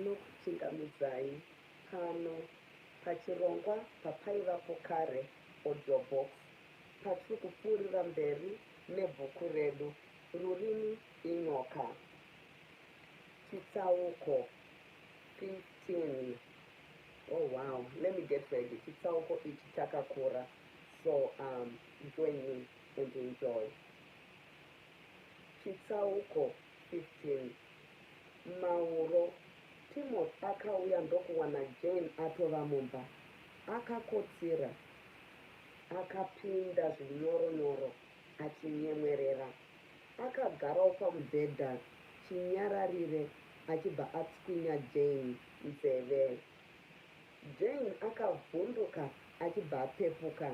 ndinokuchingamidzai pano pachirongwa papaivapo kare audio box patiri kupfuurira mberi nebhuku redu Rurimi inyoka. Chitsauko 15. Oh wow, let me get ready. Chitsauko ichi chakakura. So um, join me and enjoy. Chitsauko 15. Mauro Timothy akauya ndokuwana Jane atova mumba. Akakotsira, akapinda zvinyoro nyoro achinyemwerera. Akagarawo pamubhedha chinyararire achibva atswinya Jane nzeve. Jane akavhunduka achibva apepuka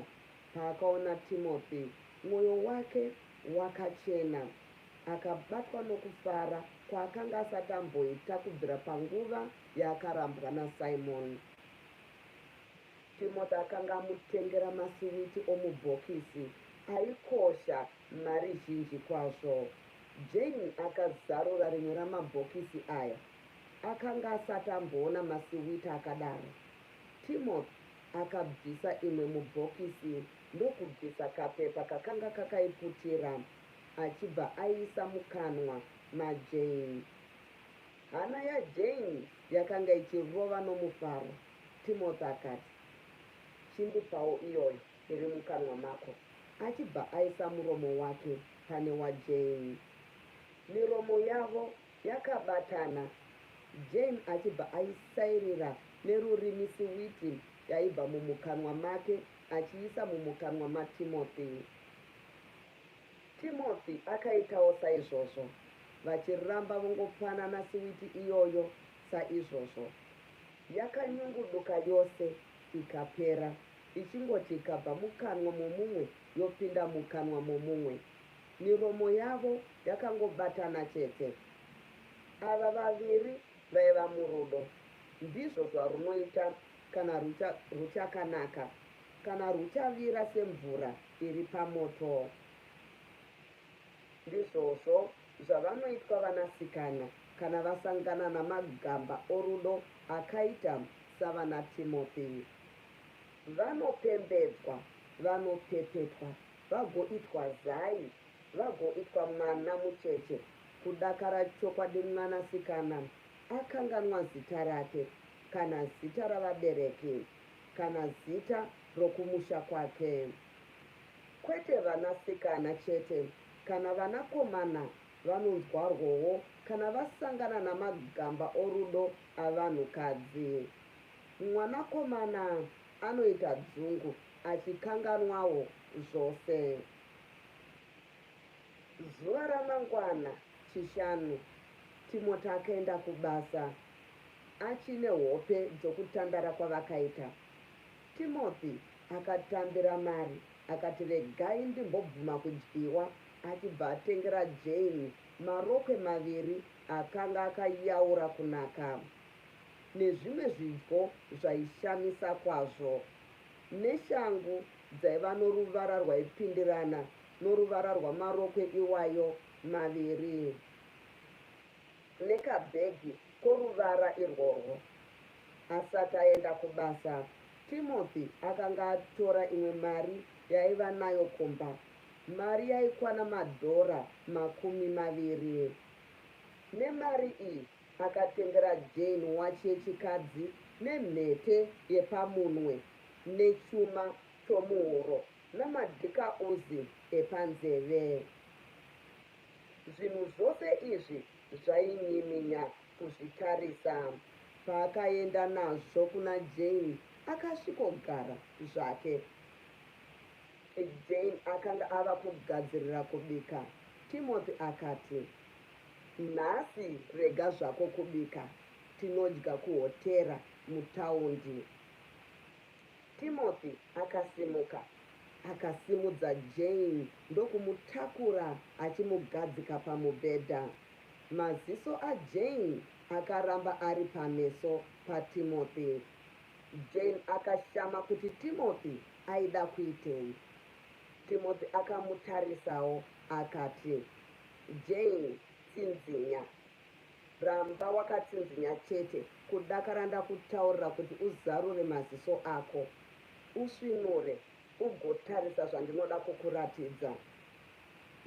paakaona Timothy. Mwoyo wake wakachena. Akabatwa nokufara kwaakanga asati amboita kubvira panguva yaakarambwa naSimon. Timothy akanga amutengera masiwiti omubhokisi aikosha mari zhinji kwazvo. Jane akazarura rimwe ramabhokisi aya. Akanga asati amboona masiwiti akadaro. Timothy akabvisa imwe mubhokisi ndokubvisa kapepa kakanga kakaiputira achibva aiisa mukanwa maJane. Hana yaJane yakanga ichirova nomufaro. Timothy akati, Chindipawo iyoyo iri mukanwa mako. Achibva aisa muromo wake pane waJane. Miromo yavo yakabatana, Jane achibva aisairira nerurimi siwiti yaibva mumukanwa make achiisa mumukanwa maTimothy. Timothy akaitawo saizvozvo, vachiramba vongopanana siwiti iyoyo saizvozvo. Yakanyunguduka yose ikapera, ichingoti ikabva mukanwa momumwe yopinda mukanwa momumwe. Miromo yavo yakangobatana chete. Ava vaviri vaiva murudo. Ndizvo zvarunoita kana rucha, ruchakanaka, kana ruchavira semvura iri pamoto. Ndizvozvo zvavanoitwa vanasikana kana vasangana namagamba orudo akaita savanaTimothy. Vanopembedzwa, vanopepetwa, vagoitwa zai, vagoitwa mwana mucheche. Kudakara chokwadi mwanasikana akanganwa zita rake, kana zita ravabereki, kana zita rokumusha kwake. Kwete vanasikana chete, kana vanakomana vanonzwarwowo kana vasangana namagamba orudo avanhukadzi. Mwanakomana anoita dzungu achikanganwawo zvose. Zuva ramangwana, Chishanu, Timoti akaenda kubasa achine hope dzokutandara kwavakaita. Timothy akatambira mari akati regai ndimbobvuma kudyiwa achibva atengera Jane marokwe maviri akanga akayaura kunaka nezvimwe zvidyo zvaishamisa kwazvo neshangu dzaiva noruvara rwaipindirana noruvara rwamarokwe iwayo maviri. nekabhegi koruvara irworwo. Asati aenda kubasa, Timothy akanga atora imwe mari yaiva nayo kumba, mari yaikwana madhora makumi maviri. Nemari iyi, akatengera Jane wachi yechikadzi nemhete yepamunwe nechuma chomuhuro namadhikauzi epanzeve. Zvinhu zvose izvi zvainyiminya kuzvitarisa. Paakaenda nazvo kuna Jane akasvikogara zvake. Jane akanga ava kugadzirira kubika. Timothy akati, Nhasi rega zvako kubika, tinodya kuhotera mutaundi. Timothy akasimuka, akasimudza Jane ndokumutakura achimugadzika pamubhedha. Maziso aJane akaramba ari pameso paTimothy. Jane akashama kuti Timothy aida kuitei. Timothy akamutarisawo akati, Jane, tsinzinya, Ramba wakatsinzinya chete kudakara ndakutaurira kuti uzarure maziso ako usvinure ugotarisa zvandinoda kukuratidza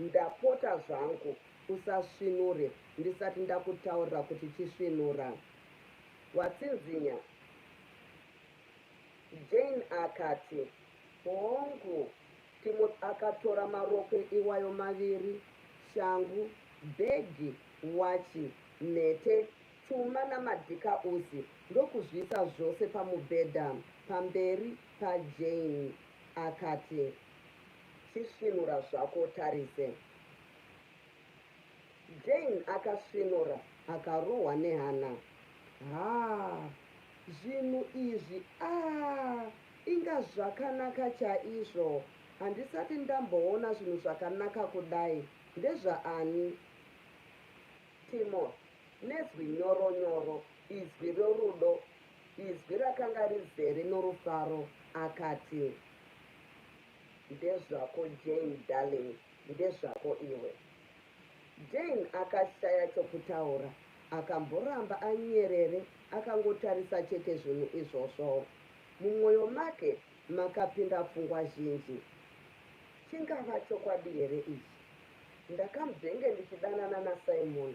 ndapota zvangu usasvinure ndisati ndakutaurira kuti chisvinura watsinzinya Jane akati Hongu, Timothy akatora marokwe iwayo maviri, shangu, bhegi, wachi, mhete, chuma namadhikausi ndokuzviisa zvose pamubhedha pamberi paJane. Akati, Chisvinura zvako utarise. Jane akasvinura akarohwa nehana. Haa zvinhu izvi aah inga zvakanaka chaizvo handisati ndamboona zvinhu zvakanaka kudai ndezvaani? Timothy nezwi nyoro nyoro izwi rerudo izwi rakanga rizere norufaro akati Ndezvako Jane darling Ndezvako iwe. Jane akashaya chokutaura. Akamboramba anyerere akangotarisa chete zvinhu izvozvo. Mumwoyo make makapinda pfungwa zhinji. Chingava chokwadi here ichi? Ndakamzvenge ndichidanana naSimon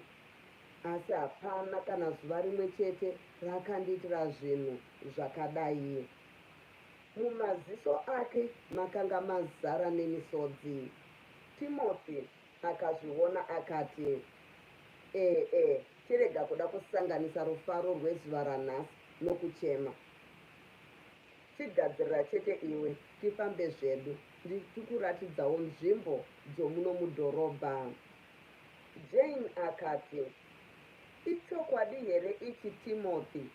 asi hapana kana zuva rimwe chete raakandiitira zvinhu zvakadai. Mumaziso ake makanga mazara nemisodzi. Timothy akazviona akati, E-e, chirega kuda kusanganisa rufaro rwezuva ranhasi nokuchema. Chigadzirira chete iwe, tifambe zvedu, ndichikuratidzawo nzvimbo dzomuno mudhorobha. Jane akati, Ichokwadi here ichi, Timothy?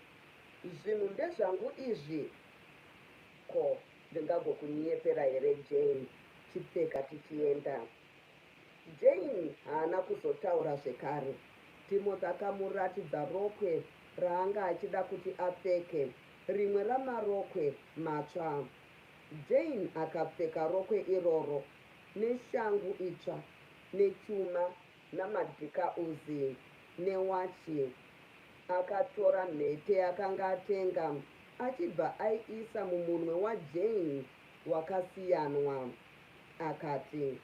Zvinhu ndezvangu izvi, Ko ndingagokunyepera here Jane chipfeka tichienda. Jane haana kuzotaura zvekare. Timothy akamuratidza rokwe raanga achida kuti apfeke, rimwe ramarokwe matsva. Jane akapfeka rokwe iroro neshangu itsva nechuma namadhika Uzi newachi. Akatora mhete yaakanga atenga achibva aiisa mumunwe waJane wakasiyanwa. Akati,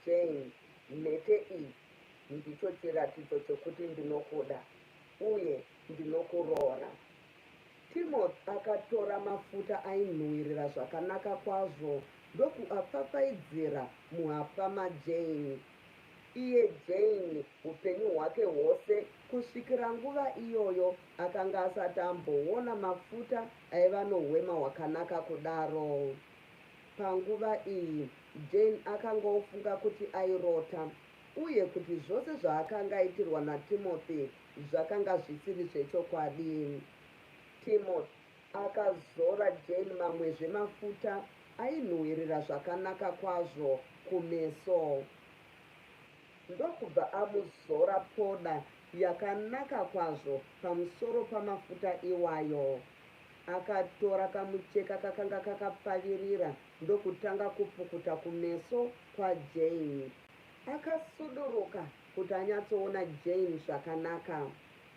Jane, mhete iyi ndicho chiratidzo chokuti ndinokuda uye ndinokuroora. Timothy akatora mafuta ainhuwirira zvakanaka kwazvo ndokuapfapfaidzira muhapwa maJane. Iye Jane, upenyu hwake hwose kusvikira nguva iyoyo, akanga asati amboona mafuta aiva nohwema hwakanaka kudaro. Panguva iyi, Jane akanga ofunga kuti airota uye kuti zvose zvaakanga aitirwa naTimothy Zvakanga zvisiri zvechokwadi. Timothy akazora Jane mamwezve mafuta ainhuhwirira zvakanaka kwazvo kumeso ndokubva amuzora poda yakanaka kwazvo pamusoro pamafuta iwayo. Akatora kamucheka kakanga kakapfavirira ndokutanga kupukuta kumeso kwaJane. Akasuduruka kuti anyatsoona Jane zvakanaka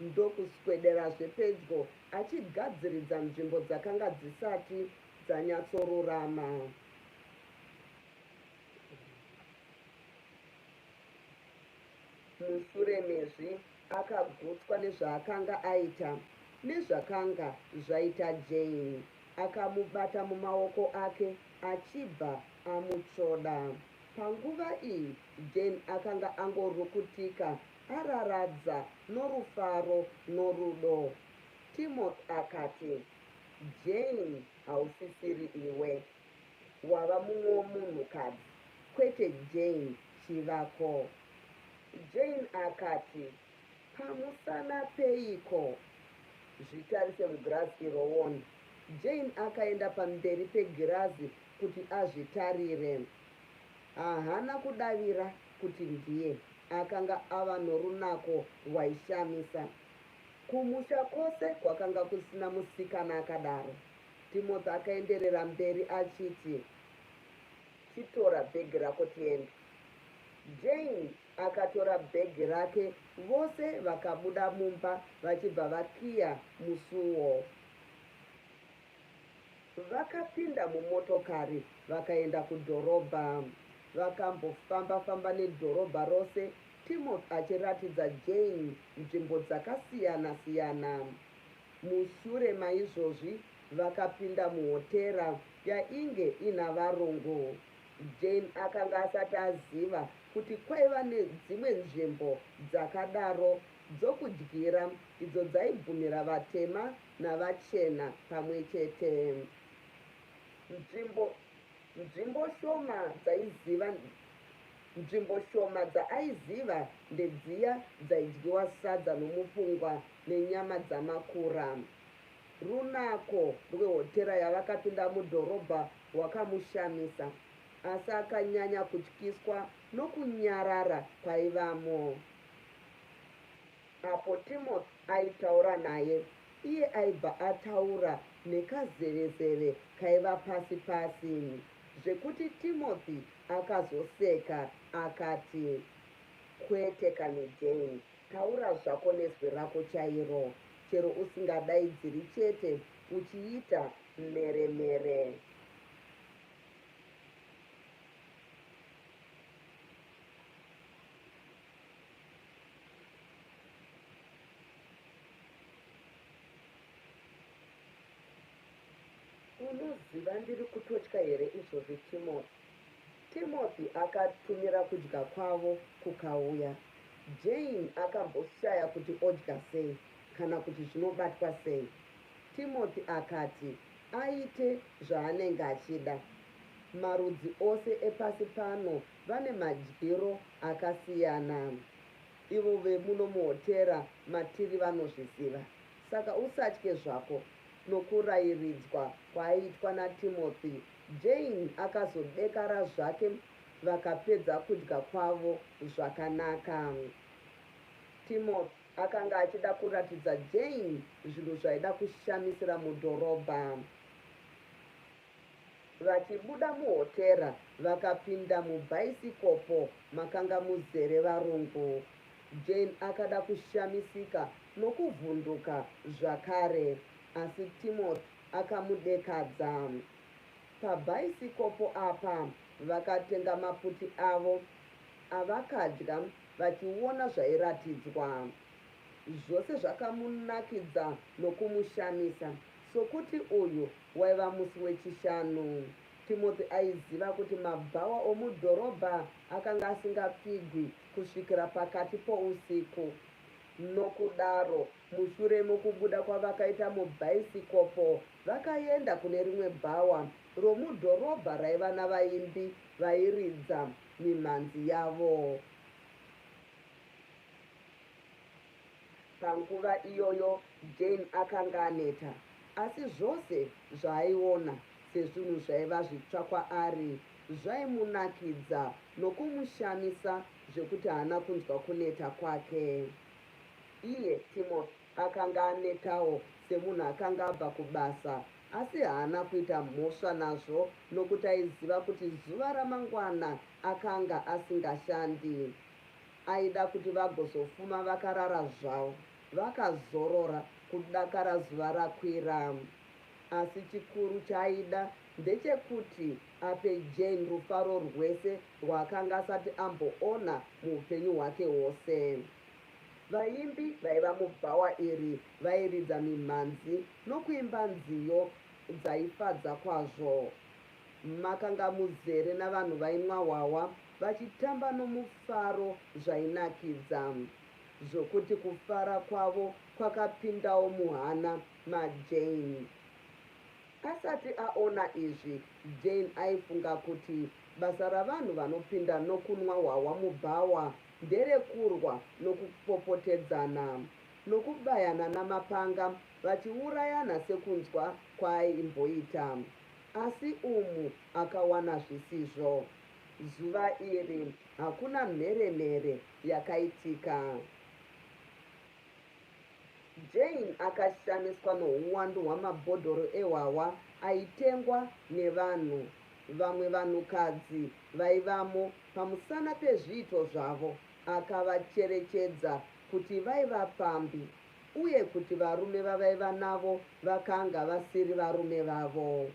ndokuswederazve pedyo achigadziridza nzvimbo dzakanga dzisati dzanyatsorurama. Mushure mezvi akagutswa nezvaakanga aita nezvakanga zvaita Jane. Akamubata mumaoko ake achibva amutsvoda. Panguva iyi Jane akanga angorukutika araradza norufaro norudo. Timothy akati, Jane, hausisiri iwe. Wava mumwewo munhukadzi, kwete Jane chivako. Jane akati, Pamusana peiko? Zvitarise mugirazi irowoni. Jane akaenda pamberi pegirazi kuti azvitarire. Haana kudavira kuti ndiye akanga ava norunako rwaishamisa. Kumusha kwose kwakanga kusina musikana akadaro. Timothy akaenderera mberi achiti, Chitora bhegi rako tiende. Jane akatora bhegi rake vose vakabuda mumba vachibva vakiya musuwo. Vakapinda mumotokari vakaenda kudhorobha. Vakambofamba-famba nedhorobha rose Timothy achiratidza Jane nzvimbo dzakasiyana-siyana. Mushure maizvozvi vakapinda muhotera yainge ina varungu. Jane akanga asati aziva kuti kwaiva nedzimwe nzvimbo dzakadaro dzokudyira idzo dzaibvumira vatema navachena pamwe chete. Nzvimbo, nzvimbo shoma dzaiziva nzvimbo shoma dzaaiziva ndedziya dzaidyiwa sadza nomupungwa nenyama dzamakura. Runako rwehotera yavakapinda mudhorobha rwakamushamisa, asi akanyanya kutyiswa nokunyarara kwaivamo. Apo Timothy aitaura naye, iye aibva ataura nekazevezeve kaiva pasi pasi zvekuti Timothy akazoseka akati, Kwete kani Jane, taura zvako nezwi rako chairo, chero usingadaidziri chete uchiita mhere mhere. unoziva ndiri kutotya here izvozvi timothy timothy akatumira kudya kwavo kukauya jane akamboshaya kuti odya sei kana kuti zvinobatwa sei timothy akati aite zvaanenge achida marudzi ose epasi pano Vane madyiro akasiyana ivo vemuno muhotera matiri vanozviziva saka usatye zvako nokurairidzwa kwaaitwa naTimothy. Jane akazodekara zvake vakapedza kudya kwavo zvakanaka. Timothy akanga achida kuratidza Jane zvinhu zvaida kushamisira mudhorobha. Vachibuda muhotera vakapinda mubhaisikopo makanga muzere varungu. Jane akada kushamisika nokuvhunduka zvakare asi Timothy akamudekadza. Pabhaisikopo apa vakatenga maputi avo avakadya vachiona zvairatidzwa. Zvose zvakamunakidza nokumushamisa sokuti uyu Waiva musi weChishanu. Timothy aiziva kuti mabhawa omudhorobha akanga asingapfigwi kusvikira pakati pousiku. Nokudaro, mushure mokubuda kwavakaita mubhaisikopo, vakaenda kune rimwe bhawa romudhorobha raiva navaimbi vairidza mimhanzi yavo. Panguva iyoyo Jane akanga aneta, asi zvose zvaaiona sezvinhu zvaiva zvitsva kwaari zvaimunakidza nokumushamisa zvekuti haana kunzwa kuneta kwake. Iye Timothy akanga anetawo semunhu akanga abva kubasa, asi haana kuita mhosva nazvo nokuti aiziva kuti zuva ramangwana akanga asingashandi. Aida kuti vagozofuma vakarara zvavo vakazorora kudakara zuva rakwira. Asi chikuru chaaida ndechekuti ape Jane rufaro rwese rwaakanga asati amboona muupenyu hwake hwose. Vaimbi vaiva mubhawa iri vairidza mimhanzi nokuimba nziyo dzaifadza kwazvo. Makanga muzere navanhu vainwa hwahwa vachitamba nomufaro zvainakidza zvokuti kufara kwavo kwakapindawo muhana maJane. Asati aona izvi, Jane aifunga kuti basa ravanhu vanopinda nokunwa hwahwa mubhawa nderekurwa nokupopotedzana, nokubayana namapanga vachiurayana sekunzwa kwaaimboita. Asi umu akawana zvisizvo. Zuva iri hakuna mhere-mhere yakaitika. Jane akashamiswa nouwandu hwamabhodhoro ehwahwa aitengwa nevanhu. Vamwe vanhukadzi vaivamo pamusana pezviito zvavo akavacherechedza kuti vaiva pfambi. uye kuti varume vavaiva navo vakanga vasiri varume vavo.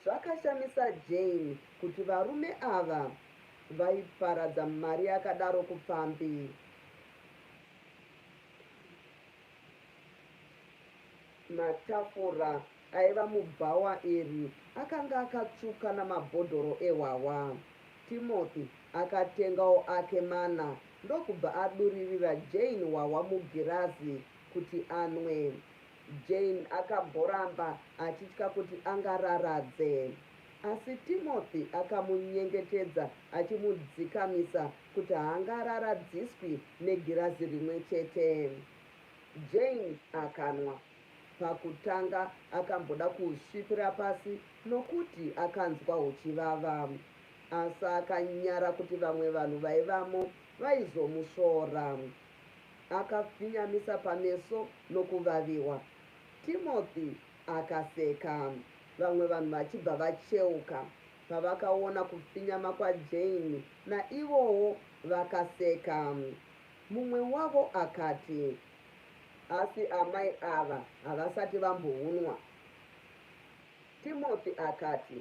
Zvakashamisa Jane kuti varume ava vaiparadza mari yakadaro kupfambi. Matafura Aiva mubhawa iri akanga akatsvuka namabhodhoro ehwahwa. Timothy akatengawo ake mana ndokubva aduririra Jane hwahwa mugirazi kuti anwe. Jane akamboramba achitya kuti angararadze. Asi Timothy akamunyengetedza achimudzikamisa kuti haangararadziswi negirazi rimwe chete. Jane akanwa Pakutanga akamboda kuhusvipira pasi nokuti akanzwa huchivava. Asi akanyara kuti vamwe vanhu vaivamo vaizomusvora. Akafinyamisa pameso nokuvaviwa. Timothy akaseka, vamwe vanhu vachibva vacheuka. Pavakaona kufinyama kwaJane, naivowo vakaseka. Mumwe wavo akati, Asi amai ava havasati vambounwa. Timothy akati,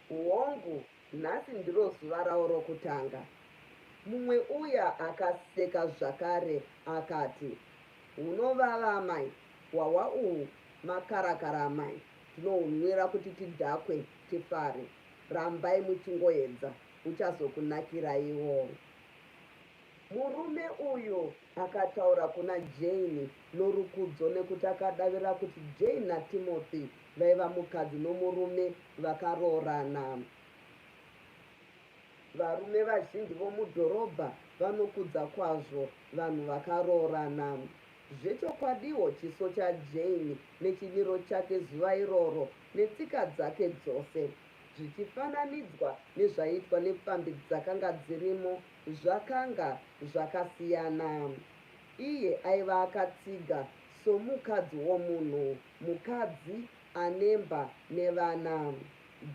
Hongu, nhasi ndiro zuva rawo rokutanga. Mumwe uya akaseka zvakare akati, Hunovava amai, hwahwa uhu makarakara amai, tinohunwira kuti tidhakwe, tifare. Rambai muchingoedza, huchazokunakiraiwo. Murume uyu akataura kuna Jane norukudzo nekuti akadavira kuti Jane naTimothy vaiva mukadzi nomurume vakaroorana. Varume vazhinji vomudhorobha vanokudza kwazvo vanhu vakaroorana. Zvechokwadiwo, chiso chaJane nechimiro chake zuva iroro netsika dzake dzose, zvichifananidzwa nezvaiitwa nepfambi dzakanga dzirimo Zvakanga zvakasiyana. Iye aiva akatsiga somukadzi womunhu, mukadzi anemba nevana.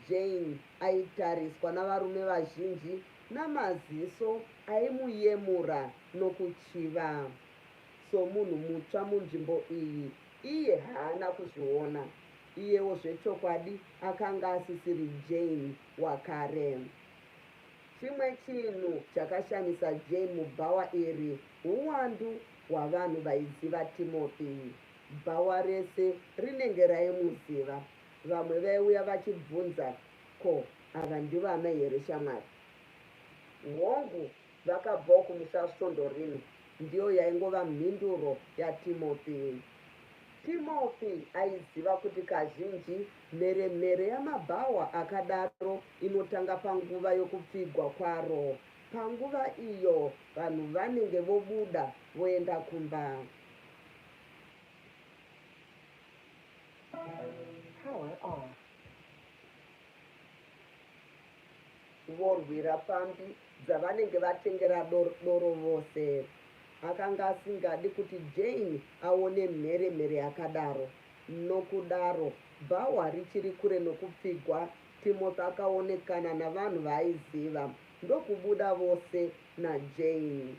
Jane aitariswa navarume vazhinji namaziso aimuyemura nokuchiva. Somunhu mutsva munzvimbo iyi, iye haana kuzviona. Iyewo zvechokwadi akanga asisiri Jane wakare. Chimwe chinhu chakashamisa Jane mubhawa iri huwandu hwavanhu vaiziva Timothy. Bhawa rese rinenge raimuziva. Vamwe vaiuya vachibvunza, Ko, ava ndivo amai here shamwari? Hongu, vakabvawo kumusha svondo rino, ndiyo yaingova mhinduro yaTimothy. Timothy aiziva kuti kazhinji Mheremhere yamabhawa akadaro inotanga panguva yokupfigwa kwaro, panguva iyo vanhu vanenge vobuda voenda kumba. Vorwira pfambi dzavanenge vatengera doro vose. Akanga asingadi kuti Jane aone mheremhere yakadaro. Nokudaro, bhawa richiri kure nokupfigwa, Timothy akaonekana navanhu vaaiziva ndokubuda vose naJane.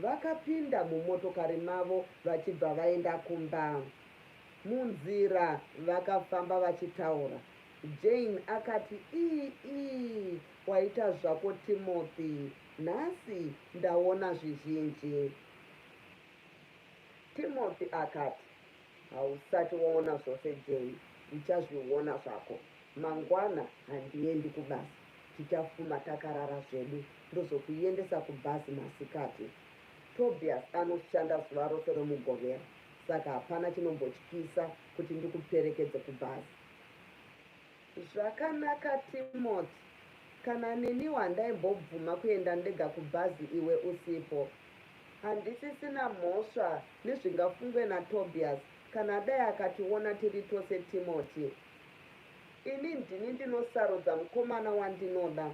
Vakapinda mumotokari mavo vachibva vaenda kumba. Munzira vakafamba vachitaura. Jane akati, Ii, ii, waita zvako Timothy. Nhasi ndaona zvizhinji. Timothy akati, hausati waona zvose jay uchazviona zvako mangwana handiendi kubasa tichafuma takarara zvedu ndozokuendesa kubhazi masikati tobias anoshanda zuva rose romugovera saka hapana chinombotyisa kuti ndikuperekedze kubhazi Zvakanaka Timothy kana neniwo handaimbobvuma kuenda ndega kubhazi iwe usipo. Handisisina mhosva nezvingafungwe naTobias kana dai akationa tiri tose Timothy. Ini ndini ndinosarudza mukomana wandinoda,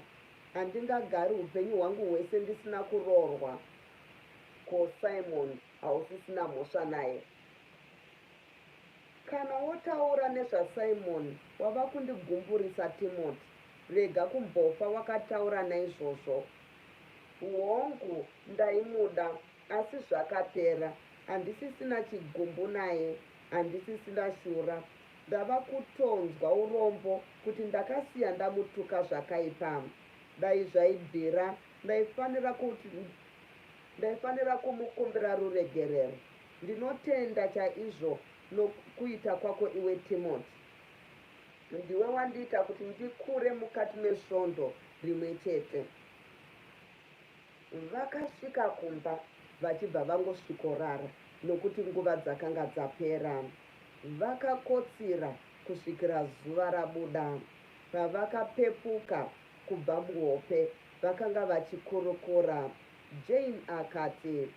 handingagari upenyu hwangu hwese ndisina kuroorwa. Ko Simon hausisina mhosva naye? Kana wotaura nezvaSimon wava kundigumburisa Timoti. Rega kumbofa wakataura naizvozvo. Hongu, ndaimuda, asi zvakapera. Handisisina chigumbu naye. Handisisina shura. Ndava kutonzwa urombo kuti ndakasiya ndamutuka zvakaipa. Dai zvaibvira, ndaifanira kuti, ndaifanira kumukumbira ruregerero. Ndinotenda chaizvo nokuita kwako iwe Timothy. Ndiwe wandiita kuti ndikure mukati mesvondo rimwe chete. Vakasvika kumba vachibva vangosvikorara nokuti nguva dzakanga dzapera. Vakakotsira kusvikira zuva rabuda. Pavakapepuka kubva muhope vakanga vachikurukura. Jane akati,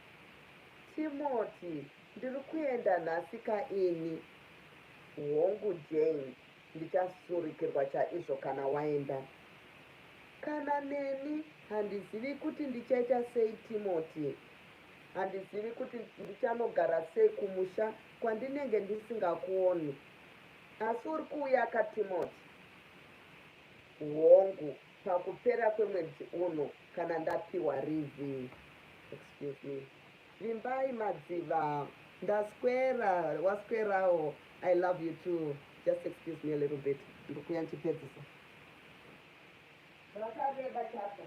Timothy, Ndiri kuenda nhasi ka ini? Hongu Jane, ndichasurikirwa chaizvo kana waenda. Kana neni handizivi kuti ndichaita sei Timothy. Handizivi kuti ndichanogara sei kumusha kwandinenge ndisingakuoni. Asi uri kuuya ka Timothy? Hongu, pakupera kwemwedzi uno kana ndapiwa rivi excuse me vimbai madziva ndaswera waswerawo i love you too just excuse me a little bit ndikuya ndichipedzisa zvakareba chapter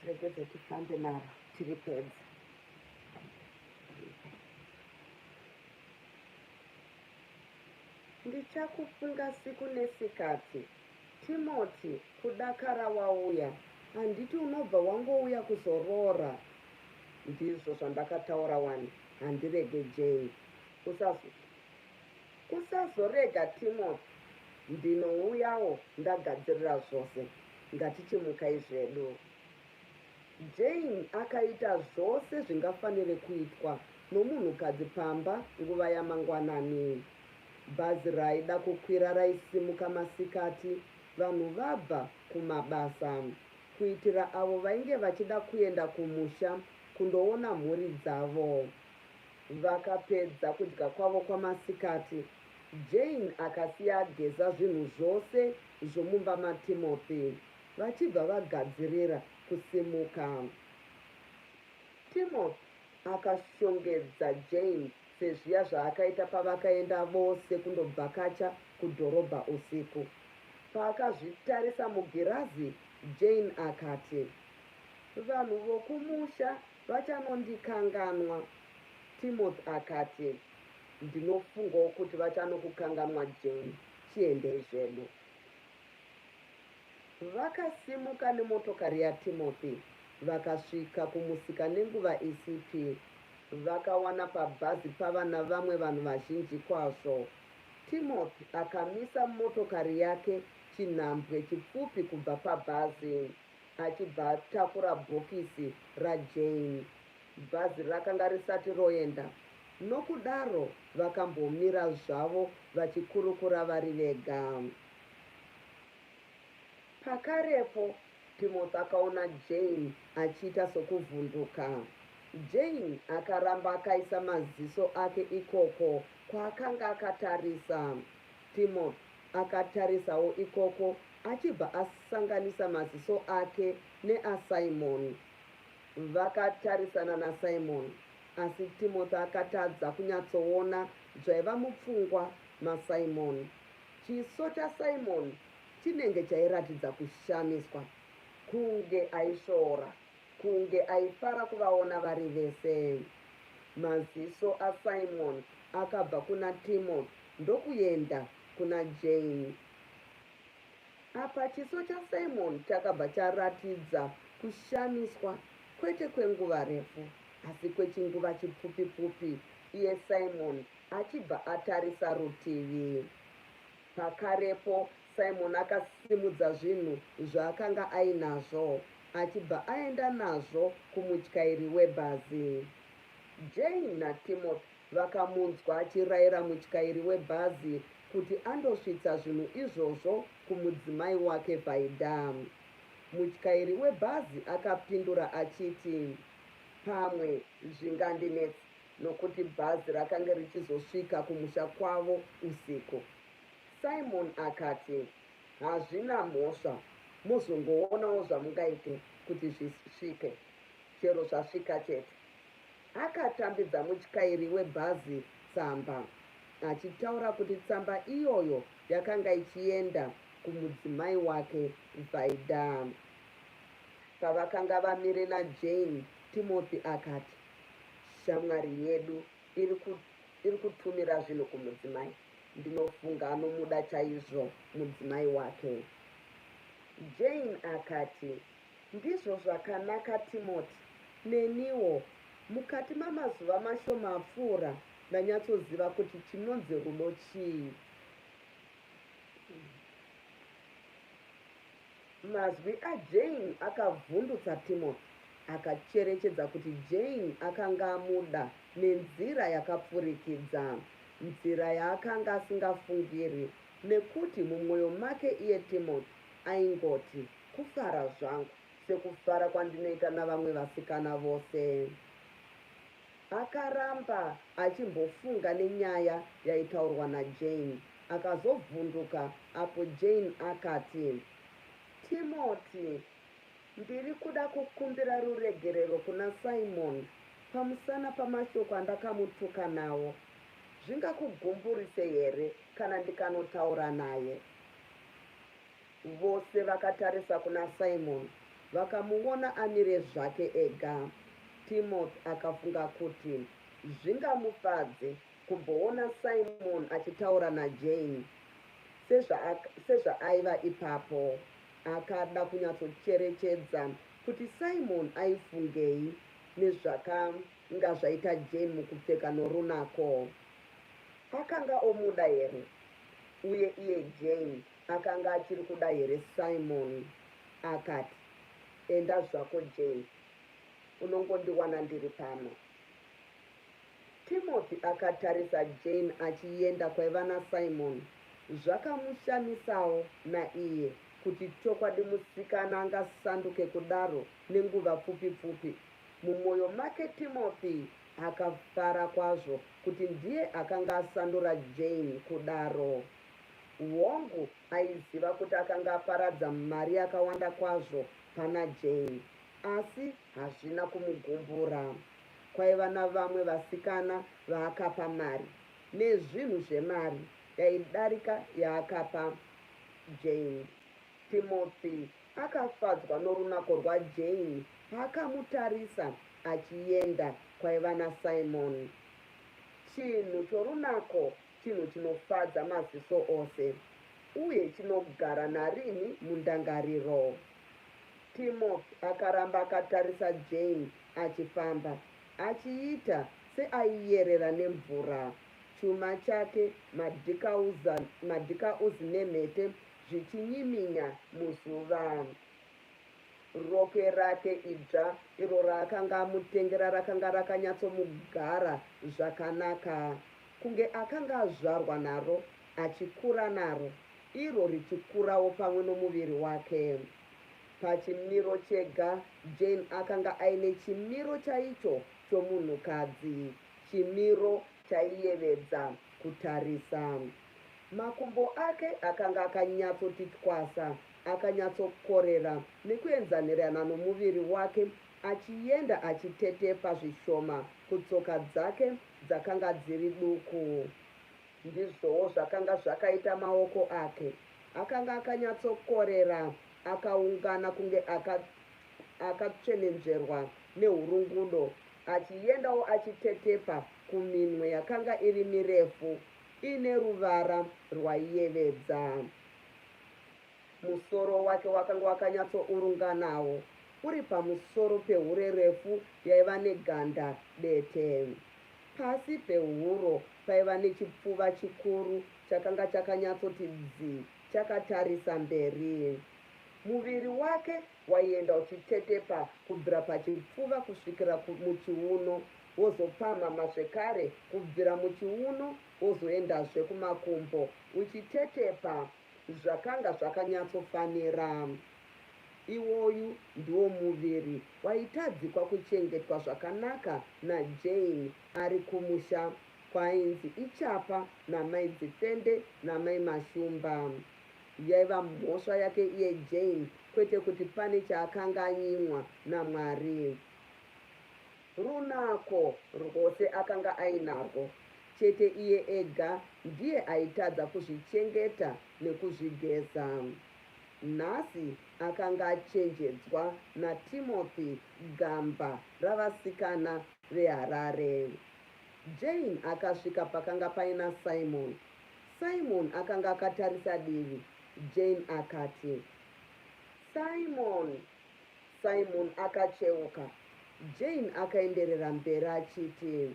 regedza tifambe naro tiri pedza ndichakufunga siku nesikati timoti kudakara wauya handiti unobva wangouya kuzoroora ndizvo zvandakataura wani handirege jei Usazorega Timothy ndinouyawo ndagadzirira zvose ngatichimukai zvedu Jane akaita zvose zvingafanire kuitwa nomunhukadzi pamba nguva yamangwanani. Bhazi raaida kukwira raisimuka masikati vanhu vabva kumabasa kuitira avo vainge vachida kuenda kumusha kundoona mhuri dzavo. Vakapedza kudya kwavo kwamasikati, Jane akasiya ageza zvinhu zvose zvomumba maTimothy vachibva vagadzirira kusimuka. Timothy akashongedza Jane sezviya zvaakaita pavakaenda vose kundobvakacha kudhorobha usiku. Paakazvitarisa mugirazi, Jane akati, Vanhu vokumusha Vachanondikanganwa, Timothy akati. Ndinofungawo kuti vachanokukanganwa Jane. Tiendei zvedu. Vakasimuka nemotokari yaTimothy vakasvika kumusika nenguva isipi. Vakawana pabhazi pava navamwe vanhu vazhinji kwazvo. Timothy akamisa motokari yake chinhambwe chipfupi kubva pabhazi. achibva atakura bhokisi raJane. Bhazi rakanga risati roenda, nokudaro vakambomira zvavo vachikurukura vari vega. Pakarepo Timothy akaona Jane achiita sokuvhunduka. Jane akaramba akaisa maziso ake ikoko kwaakanga akatarisa. Timo akatarisawo ikoko achibva asanganisa maziso ake neaSimon. Vakatarisana naSimon asi Timothy akatadza kunyatsoona zvaiva mupfungwa maSimon. Chiso chaSimon chinenge chairatidza kushamiswa kunge aisvora. Kunge aifara kuvaona vari vese. Maziso aSimon akabva kuna Timothy ndokuenda kuna Jane. Apa chiso chaSimon chakabva charatidza kushamiswa kwete kwenguva refu asi kwechinguva chipfupi-pfupi iye Simon achibva atarisa rutivi. Pakarepo Simoni akasimudza zvinhu zvaakanga ainazvo achibva aenda nazvo kumutyairi webhazi. Jane naTimothy vakamunzwa achirayira mutyairi webhazi kuti andosvitsa zvinhu izvozvo kumudzimai wake Vaida. Mutyairi webhazi akapindura achiti, Pamwe zvingandinetsa nokuti bhazi rakange richizosvika kumusha kwavo usiku. Simon akati, Hazvina mhosva, mozongoonawo zvamungaite kuti zvisvike, chero zvasvika chete. Akatambidza mutyairi webhazi tsamba, achitaura kuti tsamba iyoyo yakanga ichienda kumudzimai wake Vaida. Pavakanga vamire naJane, Timothy akati, Shamwari yedu iri ku iri kutumira zvinhu kumudzimai ndinofunga anomuda chaizvo mudzimai wake. Jane akati, Ndizvo zvakanaka Timoti, neniwo. Mukati mamazuva mashoma apfuura ndanyatsoziva kuti chinonzi rudo chii. Mazwi aJane akavhundutsa Timothy. Akacherechedza kuti Jane akanga amuda nenzira yakapfurikidza, nzira yaakanga asingafungiri, nekuti mumwoyo make iye Timothy aingoti, Kufara zvangu, sekufara kwandinoita navamwe vasikana vose. Akaramba achimbofunga nenyaya yaitaurwa naJane akazovhunduka apo Jane akati, Timothy, ndiri kuda kukumbira ruregerero kuna Simon pamusana pamashoko andakamutuka nawo. Zvingakugumburise here kana ndikanotaura naye? Vose vakatarisa kuna Simon vakamuona amire zvake ega. Timothy akafunga kuti zvingamufadze kumboona Simon achitaura naJane sezvaaiva ipapo. Akada kunyatsocherechedza kuti Simon aifungei nezvakanga zvaita Jane mukupfeka norunako. Akanga omuda here? Uye iye Jane Akanga achiri kuda here Simoni akati, Enda zvako Jane, unongondiwana ndiri pano. Timothy akatarisa Jane achienda kwaiva naSimoni. Zvakamushamisawo naiye kuti chokwadi musikana angasanduke kudaro nenguva pfupi pfupi. Mumwoyo make Timothy akafara kwazvo kuti ndiye akanga asandura Jane kudaro. Hongu, aiziva kuti akanga aparadza mari yakawanda kwazvo pana Jane, asi hazvina kumugumbura. Kwaiva navamwe vasikana vaakapa mari, nezvinhu zvemari yaidarika yaakapa Jane. Timothy akafadzwa norunako rwaJane paakamutarisa achienda kwaiva naSimon. Chinhu chorunako chinhu chinofadza maziso ose uye chinogara narini mundangariro. Timoth akaramba akatarisa Jane achifamba, achiita seaiyerera nemvura. Chuma chake, madhikauzi nemhete zvichinyiminya muzuva. Rokwe rake idzva iro raakanga amutengera rakanga rakanyatsomugara zvakanaka. Kunge akanga azvarwa naro, achikura naro, iro richikurawo pamwe nomuviri wake. Pachimiro chega, Jane akanga aine chimiro chaicho chomunhukadzi, chimiro chaiyevedza kutarisa. Makumbo ake akanga akanyatsoti twasa, akanyatsokorera nekuenzanirana nomuviri wake, achienda achitetepa zvishoma kutsoka dzake dzakanga dziri duku. Ndizvowo zvakanga zvakaita maoko ake. Akanga akanyatsokorera, akaungana kunge aka, akatsvenenzverwa nehurungudo, achiendawo achitetepa kuminwe yakanga iri mirefu, ine ruvara rwaiyevedza. Musoro wake wakanga wakanyatsourunganawo, uri pamusoro pehure refu yaiva neganda dete. Pasi pehuro paiva nechipfuva chikuru chakanga chakanyatsoti dzi chakatarisa mberi. Muviri wake waienda uchitetepa kubvira pachipfuva kusvikira muchiuno, wozopamhama zvekare kubvira muchiuno wozoendazve kumakumbo, uchitetepa Zvakanga zvakanyatsofanira. Iwoyu ndiwo muviri waitadzikwa kuchengetwa zvakanaka naJane ari kumusha kwaainzi iChapa namai Dzifende namai Mashumba. Yaiva mhosva yake iye Jane kwete kuti pane chaakanga anyimwa naMwari. Runako rwose akanga ainarwo, chete iye ega ndiye aitadza kuzvichengeta nekuzvigeza. Nhasi akanga achenjedzwa naTimothy gamba ravasikana veHarare. Jane akasvika pakanga paina Simon. Simon akanga akatarisa divi, Jane akati, Simon! Simon akacheuka. Jane akaenderera mberi achiti,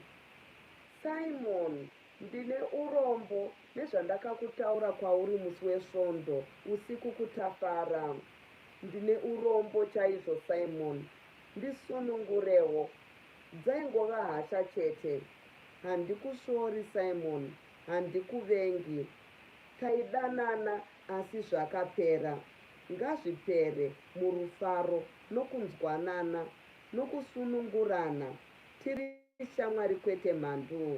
Simon, ndine urombo nezvandakakutaura kwauri musi wesvondo usiku kutafara. Ndine urombo chaizvo, Simon. Ndisunungurewo. Dzaingova hasha chete. Handikusvori, Simon. Handikuvengi. Taidanana Asi zvakapera. Ngazvipere murufaro nokunzwanana nokusunungurana tiri shamwari kwete mhanduu.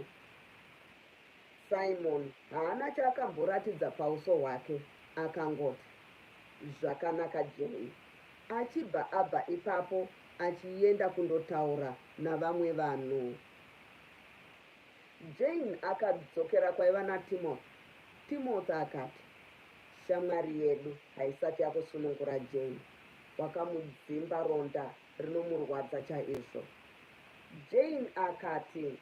Simon haana chaakamboratidza pauso hwake akangoti, Zvakanaka Joey achibva abva ipapo achienda kundotaura navamwe vanhu. Jane akadzokera kwaiva naTimothy. Timothy akati, Shamwari yedu haisati yakusunungura Jane. Wakamudzimba ronda rinomurwadza chaizvo. Jane akati,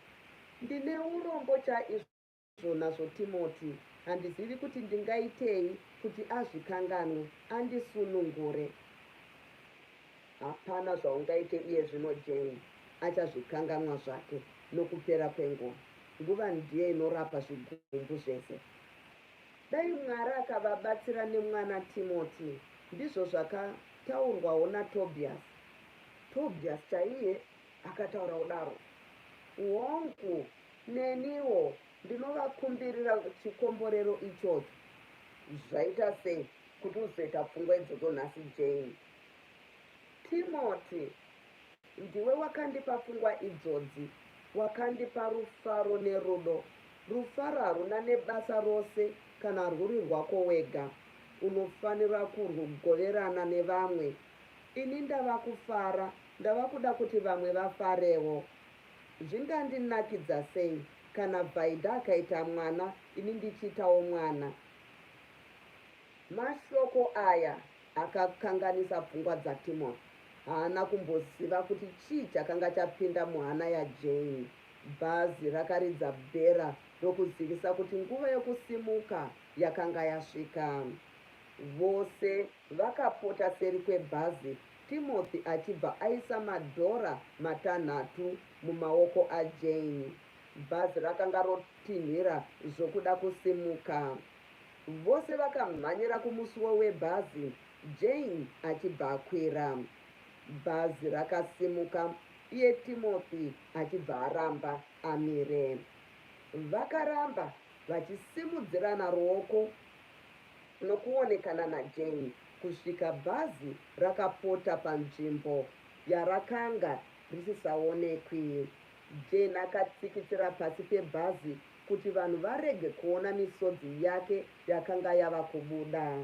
Ndine urombo chaizvo nazvo Timothy. Handizivi kuti ndingaitei kuti azvikanganwe, andisunungure. Hapana zvaungaite iye zvino Jane achazvikanganwa zvake nokupera kwenguva. Nguva ndiyo inorapa zvigumbu zvese. Dai Mwari akavabatsira nemwana Timothy. Ndizvo zvakataurwawo naTobias. Tobias chaiye akataura kudaro. Hongu, neniwo ndinovakumbirira chikomborero ichocho. Zvaita sei kuti uzoita pfungwa idzodzo nhasi Jane? Timoti, ndiwe wakandipa pfungwa idzodzi, wakandipa rufaro nerudo. Rufaro haruna nebasa rose kana rwuri rwako wega. Unofanira kurwugoverana nevamwe. Ini ndava kufara, ndava kuda kuti vamwe vafarewo. Zvingandinakidza sei kana Vaida akaita mwana ini ndichiitawo mwana? Mashoko aya Akakanganisa pfungwa dzaTimothy. Haana kumboziva kuti chii chakanga chapinda muhana yaJane. Bhazi rakaridza bhera rokuzivisa kuti nguva yokusimuka yakanga yasvika. Vose vakapota seri kwebhazi, Timothy achibva aisa madhora matanhatu mumaoko aJane. Bhazi rakanga rotinhira zvokuda kusimuka. Vose vakamhanyira kumusuwo webhazi Jane achibva akwira. Bhazi rakasimuka iye Timothy achibva aramba amire. Vakaramba vachisimudzirana ruoko nokuonekana naJane kusvika bhazi rakapota panzvimbo yarakanga risisaonekwi. Jane akatsikitsira pasi pebhazi kuti vanhu varege kuona misodzi yake yakanga yava kubuda.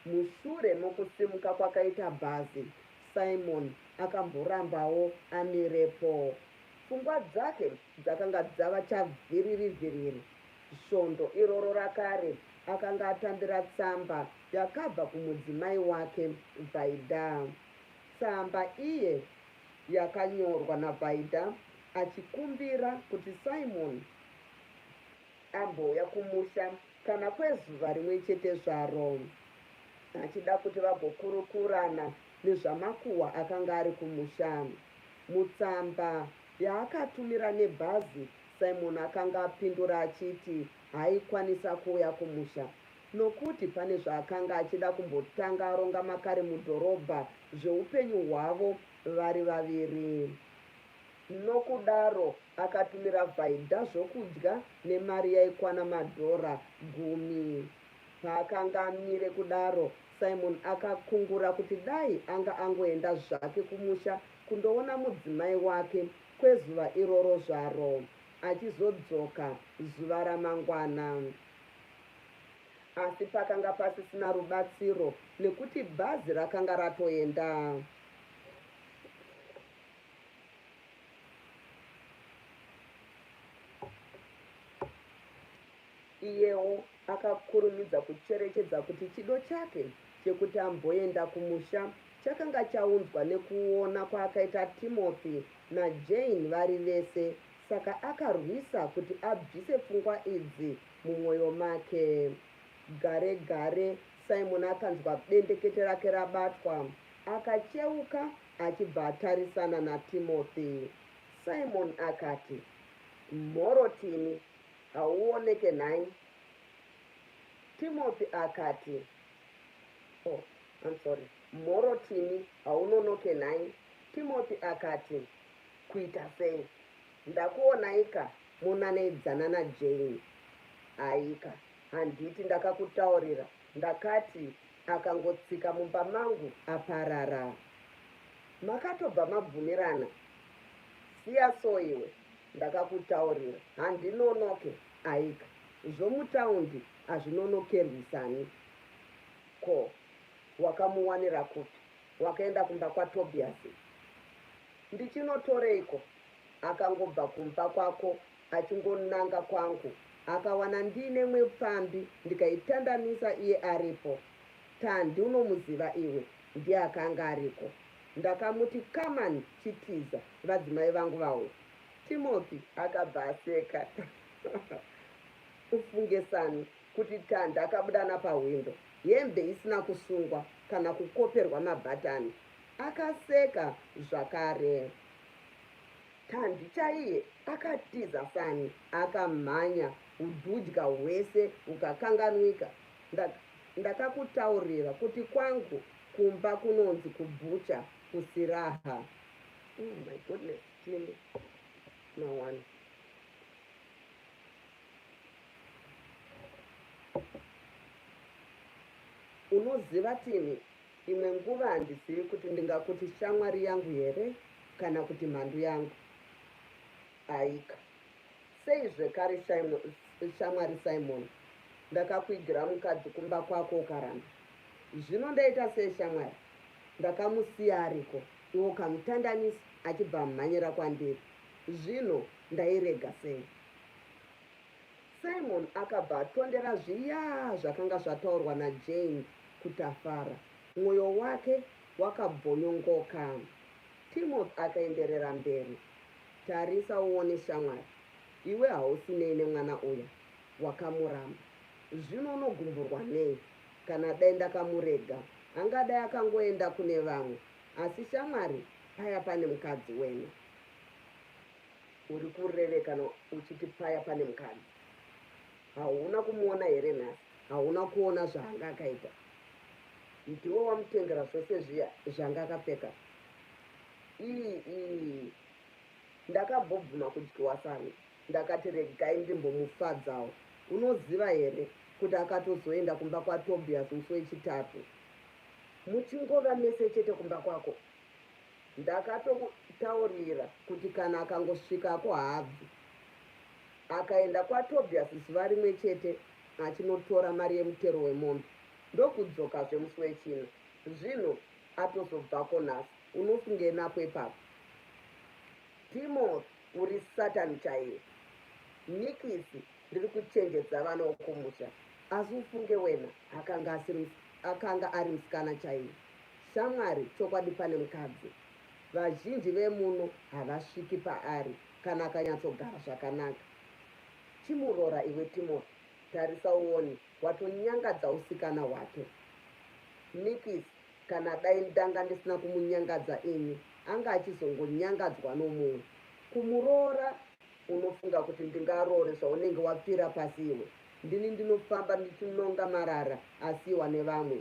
Mushure mokusimuka kwakaita bhazi, Simon akamborambawo amirepo. Pfungwa dzake dzakanga dzava chavhiririvhiriri. Svondo iroro rakare akanga atambira tsamba yakabva kumudzimai wake, Vaida. Tsamba iye yakanyorwa naVaida achikumbira kuti Simon ambouya kumusha kana kwezuva rimwe chete zvaro achida kuti vagokurukurana nezvamakuhwa akanga ari kumusha. Mutsamba yaakatumira nebhazi, Simon akanga apindura achiti haaikwanisa kuuya kumusha Nokuti pane zvaakanga achida kumbotanga aronga makare mudhorobha zveupenyu hwavo vari vaviri. Nokudaro akatumira Vaida zvokudya nemari yaikwana madhora gumi. Paakanga amire kudaro, Simon akakungura kuti dai anga angoenda zvake kumusha kundoona mudzimai wake kwezuva iroro zvaro, achizodzoka zuva ramangwana. Asi pakanga pasisina rubatsiro nekuti bhazi rakanga ratoenda. Iyewo akakurumidza kucherechedza kuti chido chake chekuti amboenda kumusha chakanga chaunzwa nekuona kwaakaita Timothy naJane vari vese, saka akarwisa kuti abvise pfungwa idzi Mumwoyo make gare gare, Simon akanzwa bendekete rake rabatwa. Akacheuka achibva atarisana naTimothy. Simon akati, Mhoro Timi, hauoneke nhai? Timothy akati, Oh, I'm sorry. Mhoro Timi, haunonoke nhai? Timothy akati, Kuita sei? Ndakuonaika monaneidzana na Jane haika handiti ndakakutaurira ndakati akangotsika mumba mangu aparara makatobva mabvumirana siya so iwe ndakakutaurira handinonoke aika zvomutaundi hazvinonokerwisani ko wakamuwanira kupi Wakaenda kumba kwaTobias ndichinotoreiko? Akangobva kumba kwako achingonanga kwangu akawana ndiine mwe pfambi ndikaitandanisa iye aripo. Tandi unomuziva iwe? Ndiye akanga ariko. Ndakamuti kaman chitiza vadzimai vangu vauya. Timothy akabva aseka ufunge sani kuti Tanda akabuda napahwindo, hembe isina kusungwa kana kukoperwa mabhatani. Akaseka zvakare. Tandi chaiye akatiza fani akamhanya ududya hwese hukakanganwika. Ndak, ndakakutaurira kuti kwangu kumba kunonzi kubhucha kusiraha. Oh my goodness, Tindi. Mawani. unoziva tini imwe nguva handizivi kuti ndingakuti shamwari yangu here kana kuti mhandu yangu aika sei zvekare shamwari simon ndakakuigira mukadzi kumba kwako ukaramba zvino ndaita sei shamwari ndakamusiya ariko iwo kamutandanisi achibva amhanyira kwandiri zvino ndairega sei Simon akabva atondera zviya zvakanga zvataurwa naJane kuTafara. Mwoyo wake wakabvonyongoka. Timothy akaenderera mberi, Tarisa uone shamwari, iwe hausi nei nemwana uya? Wakamuramba. Zvino unogumburwa nei? Kana dai ndakamurega, angadai akangoenda kune vamwe. Asi shamwari, paya pane mukadzi wena. Uri kureve kana uchiti paya pane mukadzi. Hauna kumuona here nhasi? Hauna kuona zvaanga akaita? Ndiwe wamutengera zvose zviya zvanga akapfeka. Ii ii. Ndakambobvuma kudyiwa sani. Ndakati regai ndimbomufadzawo. Unoziva here kuti akatozoenda kumba kwaTobias musi wechitatu. Muchingova mese chete kumba kwako Ndakatokutaurira kuti kana akangosvikako haabvi. Akaenda kwaTobias zuva rimwe chete achinotora mari yemutero wemombe ndokudzokazve musi weChina. Zvino atozobvako nhasi. Unofungei nako ipapo? Timothy uri Satan chaiye. Nikisi ndiri kuchenjedza vana wokumusha asi ufunge wena akanga asiri akanga ari musikana chaiye. Shamwari chokwadi pane mukadzi vazhinji vemuno havasviki paari kana akanyatsogara zvakanaka chimuroora iwe Timothy tarisa uone watonyangadza usikana hwake Nikis kana dai ndanga ndisina kumunyangadza ini anga achizongonyangadzwa nomumwe kumuroora unofunga kuti ndingaroore zvaunenge wapfira pasi iwe ndini ndinofamba ndichinonga marara asiiwa nevamwe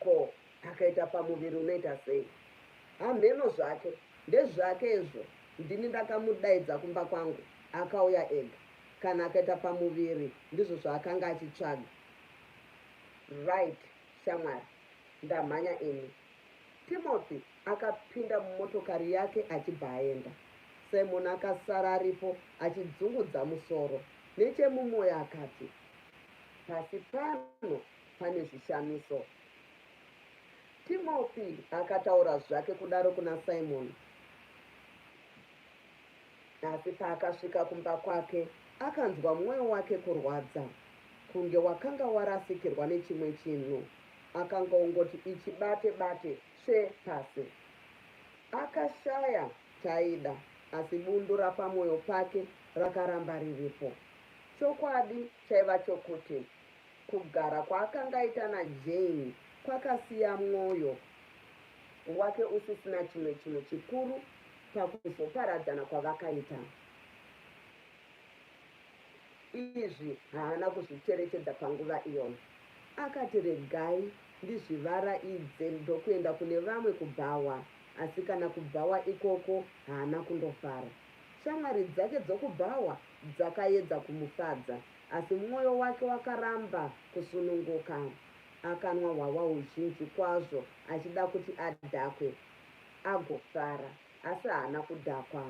Ko akaita pamuviri unoita sei? Hamheno zvake, ndezvake izvo, ndini ndakamudaidza kumba kwangu, akauya ega. Kana akaita pamuviri ndizvo zvaakanga achitsvaga. Right shamwari, ndamhanya ini. Timothy akapinda mumotokari yake achibva aenda. Simon akasara aripo achidzungudza musoro. Nechemumoyo akati, Pasi pano pane zvishamiso. Timothy akataura zvake kudaro kuna Simoni. Asi paakasvika kumba kwake, akanzwa mwoyo wake kurwadza, kunge wakanga warasikirwa nechimwe chinhu. Akanga ongoti ichibate bate tsve pasi. Akashaya chaida, asi bundu rapamwoyo pake rakaramba riripo. Chokwadi chaiva chokuti Kugara kwaakanga aita naJane kwakasiya mwoyo wake usisina chimwe chinhu chikuru pakuzoparadzana kwavakaita. Izvi haana kuzvicherechedza panguva iyoyo. Akati, Regai ndizvivaraidze ndokuenda kune vamwe kubhawa. Asi kana kubhawa ikoko haana kundofara. Shamwari dzake dzokubhawa dzakaedza kumufadza, Asi mwoyo wake wakaramba kusununguka. Akanwa hwahwa huzhinji kwazvo achida kuti adhakwe agofara, asi haana kudhakwa.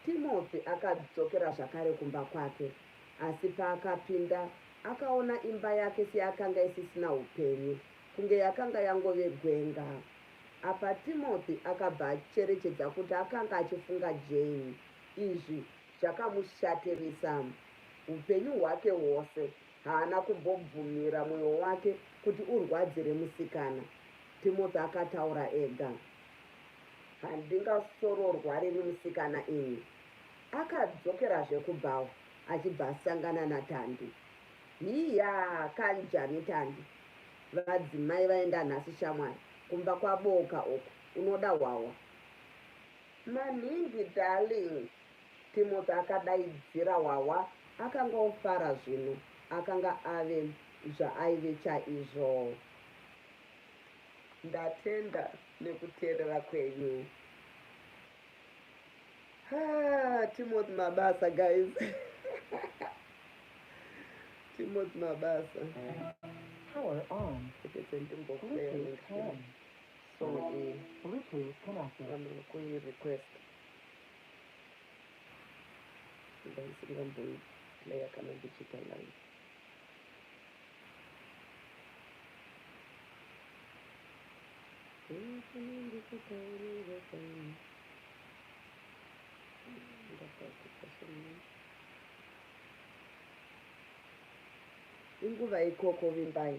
Timothy akadzokera zvakare kumba kwake, asi paakapinda akaona imba yake seyakanga isisina upenyu, kunge yakanga yangove gwenga. Apa Timothy akabva acherechedza kuti akanga achifunga Jane. Izvi Chakamushatirisa upenyu hwake hwose haana kumbobvumira mwoyo wake kuti urwadzire musikana, Timothy akataura ega. Handingasororwariri musikana ini. Akadzokerazve kubhawa achibva asangana naTandi. Hiyaa kanjani Tandi? Vadzimai vaenda nhasi shamwari, kumba kwabooka uku, unoda hwahwa? Maningi darling, Timothy akadaidzira Hwahwa akangofara zvino akanga ave zvaaive chaizvo. Ndatenda nekuteerera kwenyu. Haa Timothy mabasa guys. Timothy mabasa. Power on. Ndimbokuerenga. So iyi Bluetooth yakakura mukui request ndaisiri vamboi player kana ndichiita live inguva ikoko vimbai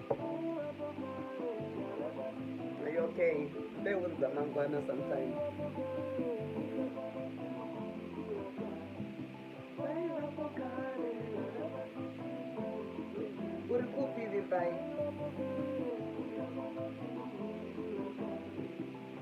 okay mbeu dzamangwana sometimes uri kupi vimbai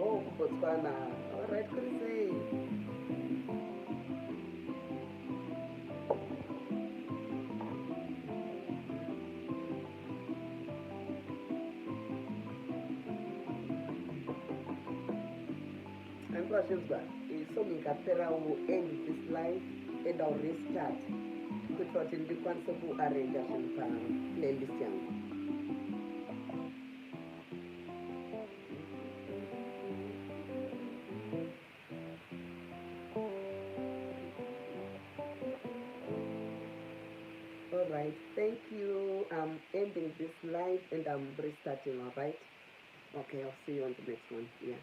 Oh, kuBotswana. All right, kuri sei? Andikwazvinzwa so ndingaperawo end this life and I'll restart kuitira kuti ndikwanise kuarrange zvinhu paplaylist yangu right thank you i'm ending this live and i'm restarting all right okay i'll see you on the next one yeah